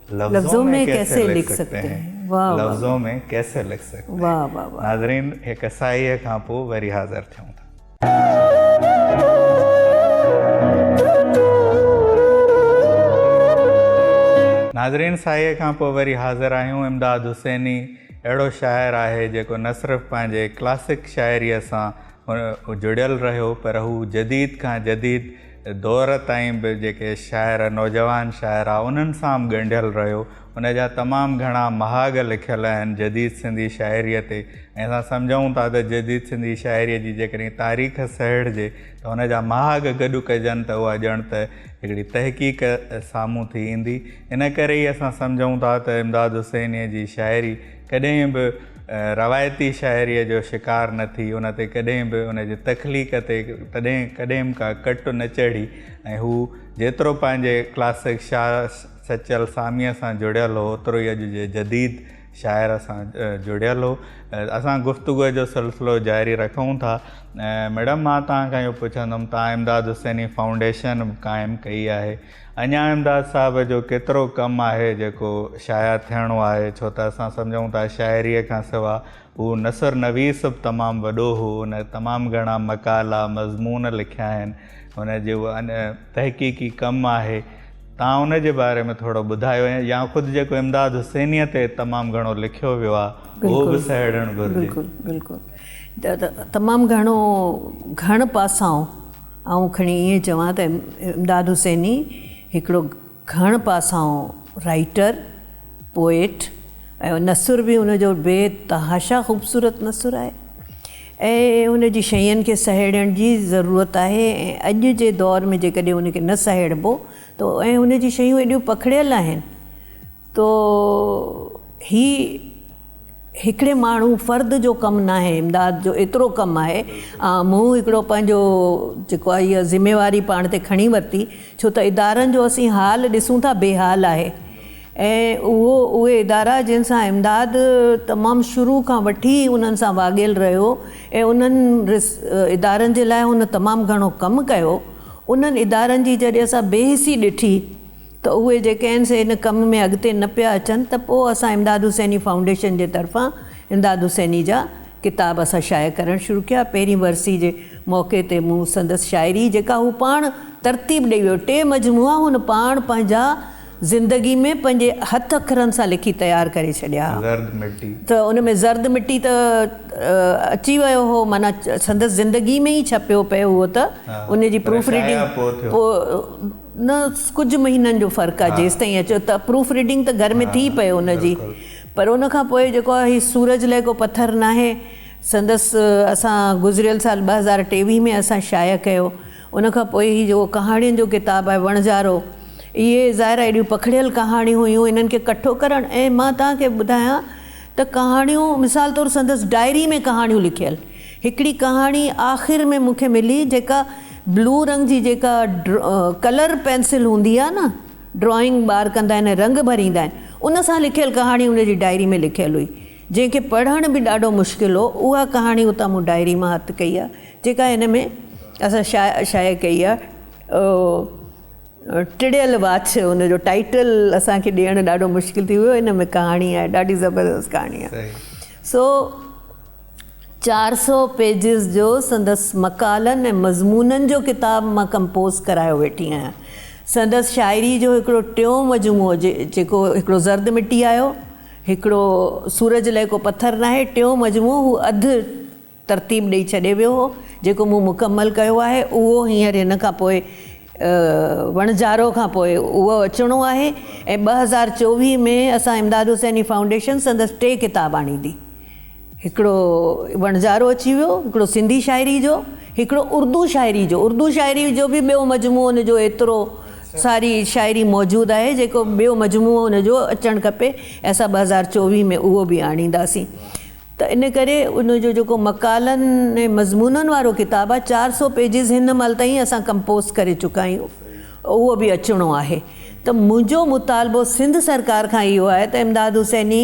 لفظون مين ڪيسي لک سگتي هين واه واه لفظون مين ڪيسي لک سگتي هين واه واه واه ناظرين هڪ سائي کان پو وري حاضر ٿيون ٿا ناظرين سائي کان پو وري حاضر آهيون امداد حسيني اهڙو شاعر آهي جيڪو نه صرف پنهنجي ڪلاسڪ شاعري سان جڙيل رهيو پر هو جديد کان جديد دور تائين به جيڪي شاعر نوجوان شاعر آ انهن سان به ڳنڍيل رهيو ان جا تمام گهڻا مهاڳ لکيل آهن جديد سنڌي شاعريء تي ۽ اسان سمجهون ٿا ته جديد سنڌي شاعريء جي جيڪڏهن تاريخ سهيڙجي ته ان جا مهاڳ گڏ ڪجن ته اها ڄڻ ته هڪڙي تحقيق سامهون ٿي ايندي ان ڪري ئي اسان سمجهون ٿا ته امداد حسينيء جي شاعري ڪڏهن به روايتي شاعريء جو شڪار نه ٿي، ان تي ڪڏهن به ان جي تخليق تي تڏهن ڪڏهن ڪا ڪٽ نه چڙهي ۽ هو جيترو پنهنجي ڪلاسڪ شاهه سچل ساميء سان جڙيل هو، اوترو ئي اڄ جي جديد شاعر سان جڙيل هو. اسان گفتگوء جو سلسلو جاري رکون ٿا. ميڊم مان توهان کان اهو پڇندم توهان امداد حسيني فائونڊيشن قائم ڪئي آهي. اڃا امداد صاحب جو ڪيترو ڪم آهي جيڪو شايع ٿيڻو آهي ڇو ته اسان سمجهون ٿا شاعريء کان سوا هو نثر نويس به تمام وڏو هو هن تمام گهڻا مقالا مضمون لکيا آهن هن جو تحقيقي ڪم آهي تان ان جي باري ۾ ٿورو ٻڌايو ۽ يا خود جيڪو امداد حسينيء تي تمام گهڻو لکيو ويو آهي اهو به سهيڙڻ گهرجي بلڪل بلڪل تمام گهڻو گهڻ پاسائون آئون کڻي ائين چوان ته امداد حسيني هڪڙو گهڻ پاسائون رائيٽر، پوئٽ ۽ نثر به هن جو بي تحاشا خوبصورت نثر آهي ۽ هن جي شين کي سهيڙڻ جي ضرورت آهي ۽ اڄ جي دور ۾ جيڪڏهن هن کي نه سهيڙبو ته ۽ هن جي شيون ايڏيون پکڙيل آهن تو هي هڪڙي ماڻهو فرد جو ڪم ناهي امداد جو ايترو ڪم آهي مون هڪڙو پنهنجو جيڪو آهي اها ذميواري پاڻ تي کڻي ورتي ڇو ته ادارن جو اسين حال ڏسون ٿا بي حال آهي ۽ اهو اهي ادارا جن سان امداد تمام شروع کان وٺي انهن سان واڳيل رهيو ۽ انهن ادارن جي لاء هن تمام گهڻو ڪم ڪيو انهن ادارن جي جڏهن اسان بي حسي ڏٺي ته اهي جي ڪنهن سي ان ڪم ۾ اڳتي نه پيا اچن ته پوء اسان امداد حسيني فائونڊيشن جي طرفان امداد حسيني جا ڪتاب اسان شايع ڪرڻ شروع ڪيا پهرين ورسي جي موقعي تي مون سندس شاعري جيڪا هو پاڻ ترتيب ڏئي ويو ٽي مجموعا هن پاڻ پنهنجا زندگي ۾ پنهنجي هٿ اکرن سان لکي تيار ڪري ڇڏيا ها زرد مٽي. ته ان ۾ زرد مٽي ته اچي ويو هو معنيٰ سندس زندگي ۾ ئي ڇپيو پئي اهو ته ان جي پروف ريڊنگ پوء نه ڪجهه مهينن جو فرق آهي جيستائين اچو ته پروف ريڊنگ ته گهر ۾ ٿي پئي ان جي پر ان کان پوء جيڪو آهي هي سورج لئه ڪو پٿر ناهي سندس اسان گذريل سال ٻه هزار ٽيويهه ۾ اسان شايع ڪيو ان کان پوء هي جيڪو ڪهاڻين جو ڪتاب آهي وڻجارو اهي ظاهر آهي اهڙيون پکڙيل ڪهاڻيون هيون انهن کي ڪٺو ڪرڻ ۽ مان توهان کي ٻڌايان ته ڪهاڻيون مثال طور سندس ڊائري ۾ ڪهاڻيون لکيل هڪڙي ڪهاڻي آخر ۾ مونکي ملي جيڪا بلو رنگ جي جيڪا ڪلر پينسل هوندي آهي نه ڊرائنگ ٻار ڪندا آهن ۽ رنگ ڀريندا آهن ان سان لکيل ڪهاڻي ان جي ڊائري ۾ لکيل هئي جنهن کي پڙهڻ به ڏاڍو مشڪل هو اها ڪهاڻي اتان مون ڊائري مان هٿ ڪئي آهي جيڪا هن ۾ اسان شايع شايع ڪئي آهي ٽڙيل واڇ ان جو ٽائيٽل اسان کي ڏيڻ ڏاڍو مشڪل ٿي ويو ان ۾ ڪهاڻي آهي ڏاڍي زبردست ڪهاڻي آهي سو چار سو پيجز جو سندس مقالن ۽ مضمونن جو ڪتاب مان ڪمپوز ڪرايو ويٺي آهيان سندس شاعري جو هڪڙو ٽيون مجموعو جيڪو هڪڙو زرد مٽي آيو هڪڙو سورج لئه ڪو پٿر ناهي ٽيون مجموعو هو اڌ ترتيب ڏئي ڇڏي ويو هو جيڪو مون مڪمل ڪيو آهي اهو هينئر هن کان پوء وڻجارو کان پوء اهو اچڻو آهي ۽ ٻه هزار چوويهه ۾ اسان امداد حسيني فائونڊيشن سندس ٽي ڪتاب آڻيندي هڪڙو وڻجارو اچي ويو هڪڙو سنڌي شاعري جو هڪڙو اردو شاعري جو اردو شاعري جو به ٻيو مجموعو ان جو ايترو ساري شاعري موجود آهي جيڪو ٻيو مجموعو ان جو اچڻ کپي اسان ٻه هزار چوويهه ۾ اهو به آڻينداسين ته ان ڪري ان جو جيڪو مقالن ۽ مضمونن وارو ڪتاب آهي چار سؤ پيجز هن مهل تائين اسان ڪمپوز ڪري چڪا آهيون اهو به اچڻو آهي ته منهنجو مطالبو سنڌ سرڪار کان اهو آهي ته امداد حسيني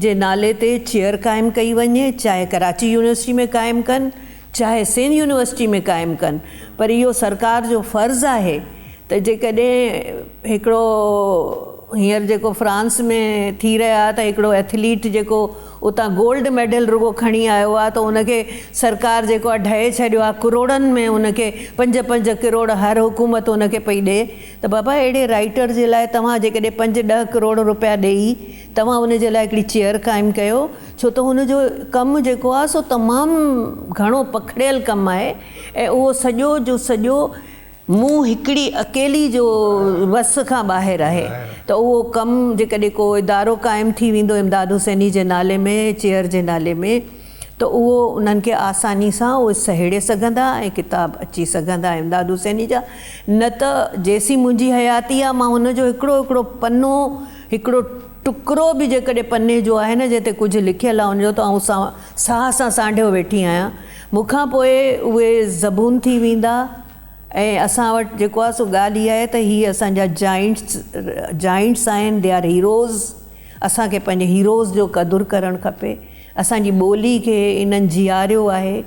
جي نالي تي چيئر قائم ڪئي وڃي چاهي ڪراچي يونيورسٽي ۾ قائم ڪن چاهي سنڌ يونيورسٽي ۾ قائم ڪن پر اهو سرڪار جو فرض آهي ته جيڪڏهن هڪڙو هينئر جيڪو فرانس ۾ ٿي رهيو آهي ته هڪڙو ايٿليٽ جيڪو اتان گولڊ ميڊل رڳو کڻي آيو آهي ته ان کي سرڪار جيڪو آهي ڍئي ڇڏيو آهي ڪروڙن ۾ ان کي پنج پنج ڪروڙ هر حڪومت ان کي پئي ڏئي ته بابا اهڙي رائٽر جي لاء توهان جيڪڏهن پنج ڏهه ڪروڙ روپيا ڏئي توهان ان جي لاء هڪڙي چيئر قائم ڪيو ڇو ته هن جو ڪم جيڪو آهي سو تمام گهڻو پکڙيل ڪم آهي ۽ اهو سڄو جو سڄو مون هڪڙي اڪيلي جو وس کان ٻاهر آهي ته اهو ڪم جيڪڏهن ڪو ادارو قائم ٿي ويندو امداد حسيني جي نالي ۾ چيئر جي نالي ۾ ته اهو انهن کي آساني سان اهي سهيڙي سگهندا ۽ ڪتاب اچي سگهندا امداد حسيني جا نه ته جيسين منهنجي حياتي آهي مان هن جو هڪڙو هڪڙو پنو هڪڙو ٽڪرو به جيڪڏهن پني جو آهي نه جنهن تي ڪجهه لکيل آهي ان جو ته آئون ساهه سان سانڍيو ويٺي آهيان. مون کان پوء اهي زبون ٿي ويندا ۽ اسان وٽ جيڪو آهي سو ڳالهه اها آهي ته هي اسان جا جائنٽس Giants آهن They are Heroes اسان کي پنهنجي Heroes جو قدر ڪرڻ کپي اسان جي ٻولي کي انهن جياريو آهي.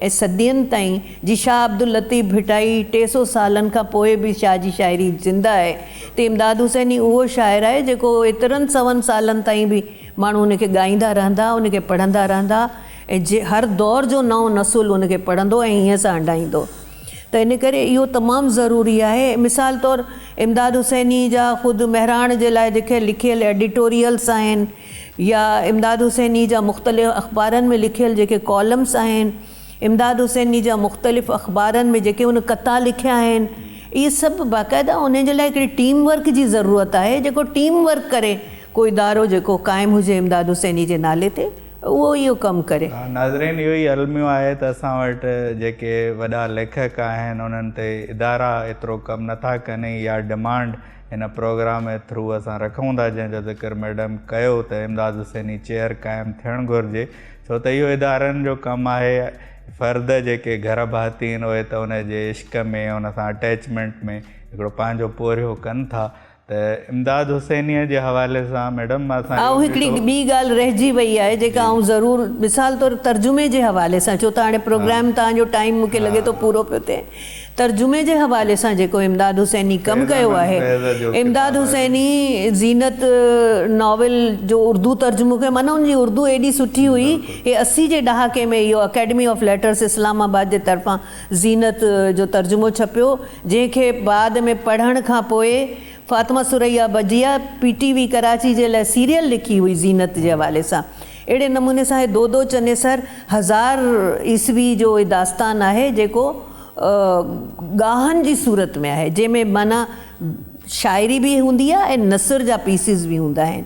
۽ صدين تائين جي شاهه عبداللطيف ڀٽائي ٽي سئو سالن کان پوء به شاهه جي شاعري زنده آهي ته امداد حسين ئي اهو شاعر آهي جيڪو ايترن سون سالن تائين به ماڻهو ان کي ڳائيندا رهندا ان کي پڙهندا رهندا ۽ هر دور جو نئون نسل ان کي پڙهندو ۽ هيئن سان هنڊائيندو ته ان ڪري اهو تمام ضروري آهي مثال طور امداد حسيني جا خود مهراڻ جي لاء جيڪي لکيل ايڊيٽوريلس آهن يا امداد حسيني جا مختلف اخبارن ۾ لکيل جيڪي ڪالمز آهن، امداد حسيني جا مختلف اخبارن ۾ جيڪي هن قطعا لکيا آهن، اهي سڀ باقاعده انهن جي لاء هڪڙي ٽيم ورڪ جي ضرورت آهي، جيڪو ٽيم ورڪ ڪري، ڪو ادارو جيڪو قائم هجي امداد حسيني جي نالي تي، اهو اهو ڪم ڪري. ناظرين اهو ئي الميو آهي ته اسان وٽ جيڪي وڏا ليکڪ آهن انهن تي ادارا ايترو ڪم نٿا ڪن ۽ اها ڊمانڊ هن پروگرام اي ٿرو اسان رکون ٿا جنهن جو ذڪر ميڊم ڪيو ته امداد حسيني چيئر قائم ٿيڻ گهرجي ڇو ته اهو ادارن جو ڪم آهي فرد جيڪي گهر ڀاتين اهي ته ان جي عشق ۾ ان سان اٽيچمنٽ ۾ هڪڙو پنهنجو پورهيو ڪن ٿا ته امداد حسينيء جي حوالي سان ميڊم مان اسان اهو ڏٺو. هڪڙي ٻي ڳالهه رهجي وئي آهي جيڪا آئون ضرور مثال طور ترجمي جي حوالي سان ڇو ته هاڻي پروگرام توهان جو ٽائيم مون کي لڳي ٿو پورو پيو ٿئي. ترجمي جي حوالي سان جيڪو امداد حسيني ڪم ڪيو آهي، امداد حسيني زينت ناول جو اردو ترجمو ڪيو معنيٰ ان جي اردو ايڏي سٺي هئي هي اسي جي ڏهاڪي ۾ اهو Academy of Letters Islamabad جي طرفان زينت جو ترجمو ڇپيو جنهن کي بعد ۾ پڙهڻ کان پوء Fatima Surayya Bajia P T V Karachi جي لاء سيريل لکي هئي زينت جي حوالي سان اهڙي نموني سان هي دودو چنيسر هزار عيسوي جو هي داستان آهي جيڪو ڳاهن جي صورت ۾ آهي جنهن ۾ معنيٰ شاعري به هوندي آهي ۽ نثر جا پيسز به هوندا آهن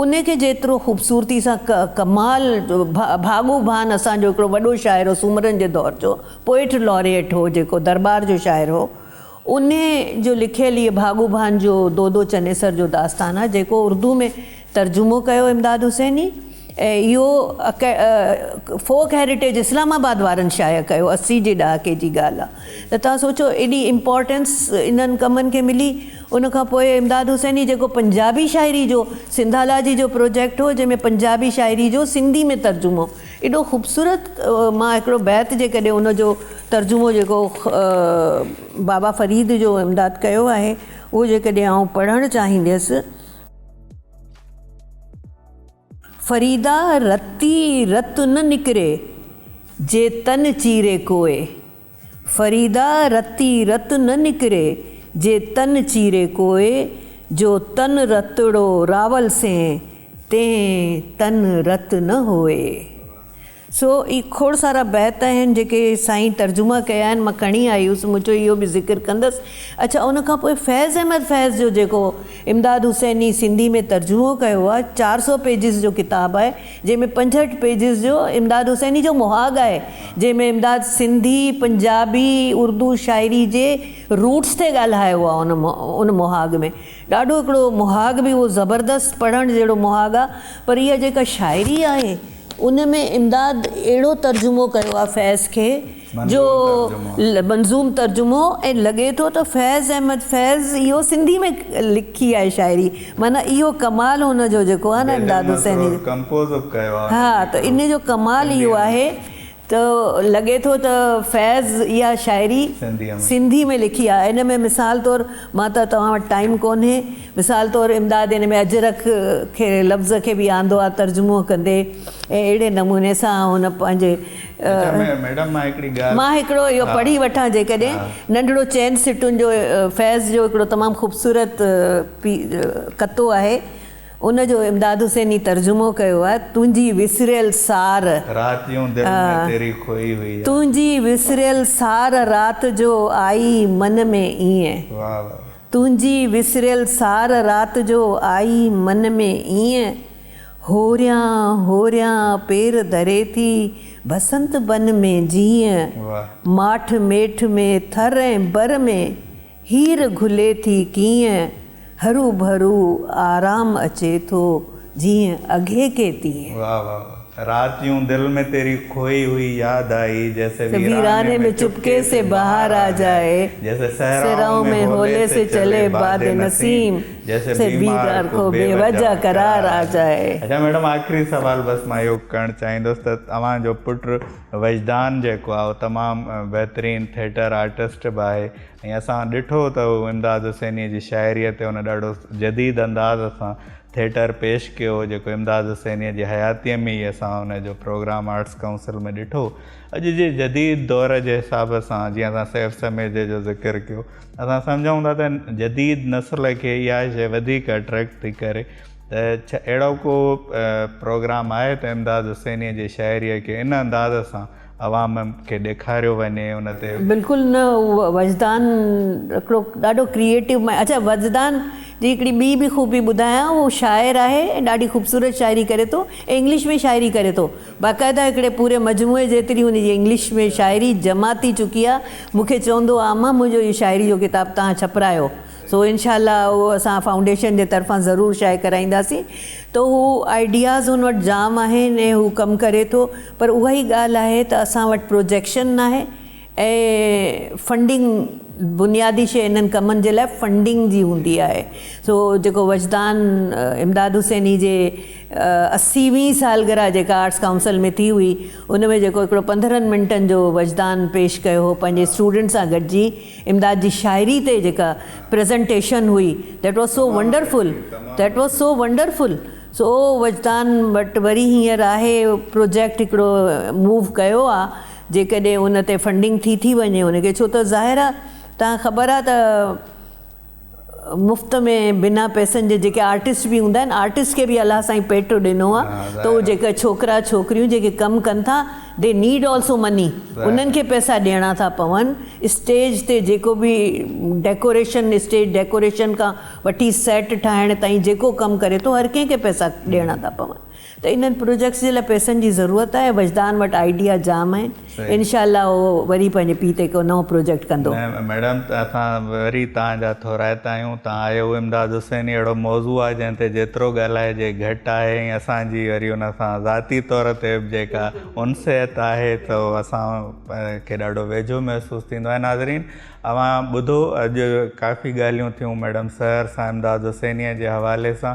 ان کي جيترو خوبصورتي سان ڪمال ڀاڳو ڀان اسان جو هڪڙو وڏو شاعر هو سومرن جي دور جو پوئٽ لاريٽ هو جيڪو درٻار جو شاعر هو ان جو لکيل هي ڀاڳو ڀان جو دودو چنيسر جو داستان آهي جيڪو اردو ۾ ترجمو ڪيو امداد حسيني ۽ اهو فوڪ هيريٽيج اسلام آباد وارن شايع ڪيو اسي جي ڏهاڪي جي ڳالهه آ ته تهان سوچو ايڏي امپارٽينس انهن ڪمن کي ملي ان کان پوء امداد حسيني جيڪو پنجابي شاعري جو سنڌالاجي جو پروجيڪٽ هو جنهن ۾ پنجابي شاعري جو سنڌي ۾ ترجمو ايڏو خوبصورت مان هڪڙو بيت جيڪڏهن ان جو ترجمو جيڪو بابا فريد جو امداد ڪيو آهي اهو جيڪڏهن آئون پڙهڻ چاهينديس. فريدا رتي رت نه نڪري، جي تن چيري ڪوئي. فريدا رتي رت نه نڪري، جي تن چيري ڪوئي، جو تن رتڙو راول سين، تين تن رت نه هوئي. سو اهي کوڙ سارا بيت آهن جيڪي سائين ترجما ڪيا آهن مان کڻي آئي هيس مون چيو اهو به ذڪر ڪندس اڇا ان کان پوء فيض احمد فيض جو جيڪو امداد حسيني سنڌي ۾ ترجمو ڪيو آهي چار سؤ پيجز جو ڪتاب آهي جنهن ۾ پنجهٺ پيجز جو امداد حسيني جو مهاڳ آهي جنهن ۾ امداد سنڌي پنجابي اردو شاعري جي روٽس تي ڳالهايو آهي ان ان مهاڳ ۾ ڏاڍو هڪڙو مهاڳ به هو زبردست پڙهڻ جهڙو مهاڳ آهي پر اها جيڪا شاعري آهي ان ۾ امداد اهڙو ترجمو ڪيو آهي فيض کي جو منظوم ترجمو ۽ لڳي ٿو ته فيض احمد فيض اهو سنڌي ۾ لکي آهي شاعري معنيٰ اهو ڪمال هن جو جيڪو آهي نه امداد حسيني جو ها ته ان جو ڪمال اهو آهي ته لڳي ٿو ته فيض اها شاعري سنڌي ۾ لکي آهي. ان ۾ مثال طور مان ته توهان وٽ ٽائيم ڪونهي. مثال طور امداد ان ۾ اجرڪ کي لفظ کي به آندو آهي ترجمو ڪندي ۽ اهڙي نموني سان هن پنهنجي مان هڪڙو اهو پڙهي وٺان جيڪڏهن ننڍڙو چئن سٽن جو فيض جو هڪڙو تمام خوبصورت ڪتو آهي. ان جو امداد حسيني ترجمو ڪيو آهي، تنهنجي وسريل سار. راتيون دل ۾ تيري کوئي هئي آ. تنهنجي وسريل سار رات جو آئي من ۾ ايئن. واھ واھ واھ. تنهنجي وسريل سار رات جو آئي من ۾ ايئن. هوريان هوريان پير ڌري ٿي بسنت بن ۾ جيئن. واھ. ماٺ ميٺ ۾ ٿر ۽ بر ۾. هير گهلي ٿي ڪيئن، هروڀرو آرام اچي ٿو جيئن اگهيڪي تيئن. واھ واھ واھ رات يون دل ۾ تيري کوئي هئي ياد آئي جيسي ويراني ۾ چپڪي سي بهار آ جائي جيسي صحرائون ۾ هولي سي چلي باد نسيم جيسي بيمار کو بي وجه قرار آ جائي. اڇا ميڊم آخري سوال بس مان اهو ڪرڻ چاهيندس ته اوهان جو پٽ وجدان جيڪو آهي اهو تمام بهترين ٿيٽر آرٽسٽ به آهي ۽ اسان ڏٺو ته هو امداد حسينيء جي شاعريء تي ان ڏاڍو جديد انداز سان ٿيٽر پيش ڪيو هو، جيڪو امداد حسينيء جي حياتيء ۾ ئي اسان ان جو پروگرام آرٽس ڪائونسل ۾ ڏٺو. اڄ جي جديد دور جي حساب سان، جيئن اسان سيف سميجي جو ذڪر ڪيو، اسان سمجهون ٿا ته جديد نسل کي اها شيء وڌيڪ اٽريڪٽ ٿي ڪري ته ڇا اهڙو ڪو پروگرام آهي ته امداد حسينيء جي شاعريء کي ان انداز سان عوام کي ڏيکاريو وڃي ان تي. بلڪل نه هو وجدان هڪڙو ڏاڍو ڪريئيٽو مائنڊ اڇا وجدان جي هڪڙي ٻي به خوبي ٻڌايان هو شاعر آهي ۽ ڏاڍي خوبصورت شاعري ڪري ٿو ۽ انگلش ۾ شاعري ڪري ٿو باقاعده هڪڙي پوري مجموعي جيتري هن جي انگلش ۾ شاعري جمع ٿي چڪي آهي مون کي چوندو هو عامه منهنجو اهو شاعري جو ڪتاب توهان ڇپرايو سو انشاء الله اهو اسان فائونڊيشن جي طرفان ضرور شايع ڪرائينداسين ته هو آئيڊياز هن وٽ جام آهن ۽ هو ڪم ڪري ٿو پر اها ئي ڳالهه آهي ته اسان وٽ پروجيڪشن ناهي ۽ فنڊنگ بنيادي شيء انهن ڪمن جي لاء فنڊنگ جي هوندي آهي سو جيڪو وجدان امداد حسيني جي اسي وين سالگرهه جيڪا آرٽس ڪائونسل ۾ ٿي هئي ان ۾ جيڪو هڪڙو پندرهن منٽن جو وجدان پيش ڪيو هو پنهنجي اسٽوڊنٽ سان گڏجي امداد جي شاعري تي جيڪا پريزنٽيشن هئي That was so wonderful That was so wonderful سو وجدان وٽ وري هينئر آهي پروجيڪٽ هڪڙو موو ڪيو آ جيڪڏهن ان تي فنڊنگ ٿي ٿي وڃي ان کي ڇو ته ظاهر آ تان کبر آ ته مفت ۾ بنا پئسن جي جيڪي آرٽسٽ به هوندا آهن آرٽسٽ کي به الله سائين پيٽو ڏنو آهي ته اهي جيڪي ڇوڪرا ڇوڪريون جيڪي ڪم ڪن ٿا دي نيڊ آلسو مني انهن کي پئسا ڏيڻا ٿا پون اسٽيج تي جيڪو به ڊيڪوريشن اسٽيج ڊيڪوريشن کان وٺي سيٽ ٺاهڻ تائين جيڪو ڪم ڪري ٿو هر ڪنهن کي پئسا ڏيڻا ٿا پون ته انهن پروجيڪٽس جي لاء پئسن جي ضرورت آهي وجدان وٽ آئيڊيا جام آهن انشاء الله هو وري پنهنجي پي تي ڪو نئون پروجيڪٽ ڪندو. ميڊم اسان وري توهان جا ٿورائتا آهيون توهان آهيو امداد حسيني اهڙو موضوع آهي جنهن تي جيترو ڳالهائجي گهٽ آهي ۽ اسان جي وري ان سان ذاتي طور تي به جيڪا انسيت آهي ته اسان کي ڏاڍو ويجهو محسوس ٿيندو آهي ناظرين اوهان ٻڌو اڄ ڪافي ڳالهيون ٿيون ميڊم سحر سان امداد حسيني جي حوالي سان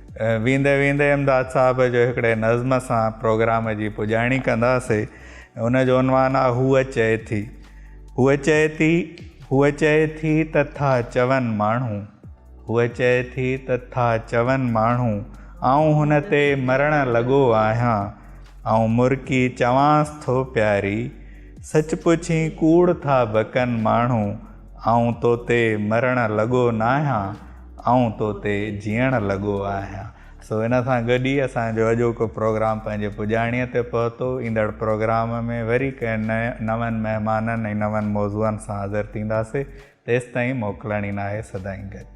ويندي ويندي امداد صاحب جو هڪڙي نظم سان پروگرام جي پڄاڻي ڪنداسي ان جو عنوان آ هوء چئي ٿي هوء چئي ٿي هوء چئي ٿي ته ٿا چون ماڻهو هوء چئي ٿي ته ٿا چون ماڻهو آئون هن تي مرڻ لڳو آهيان آئون مرڪي چوانس ٿو پياري سچ پڇين ڪوڙ ٿا بڪن ماڻهو آئون تو تي مرڻ لڳو ناهيان، آئون تو تي جيئڻ لڳو آهيان. سو ان سان گڏ ئي اسان جو اڄوڪو پروگرام پنهنجي پڄاڻيء تي پهتو. ايندڙ پروگرام ۾ وري ڪنهن نون مهمانن ۽ نون موضوعن سان حاضر ٿينداسين. تيستائين موڪلڻي ناهي سدائين گڏ.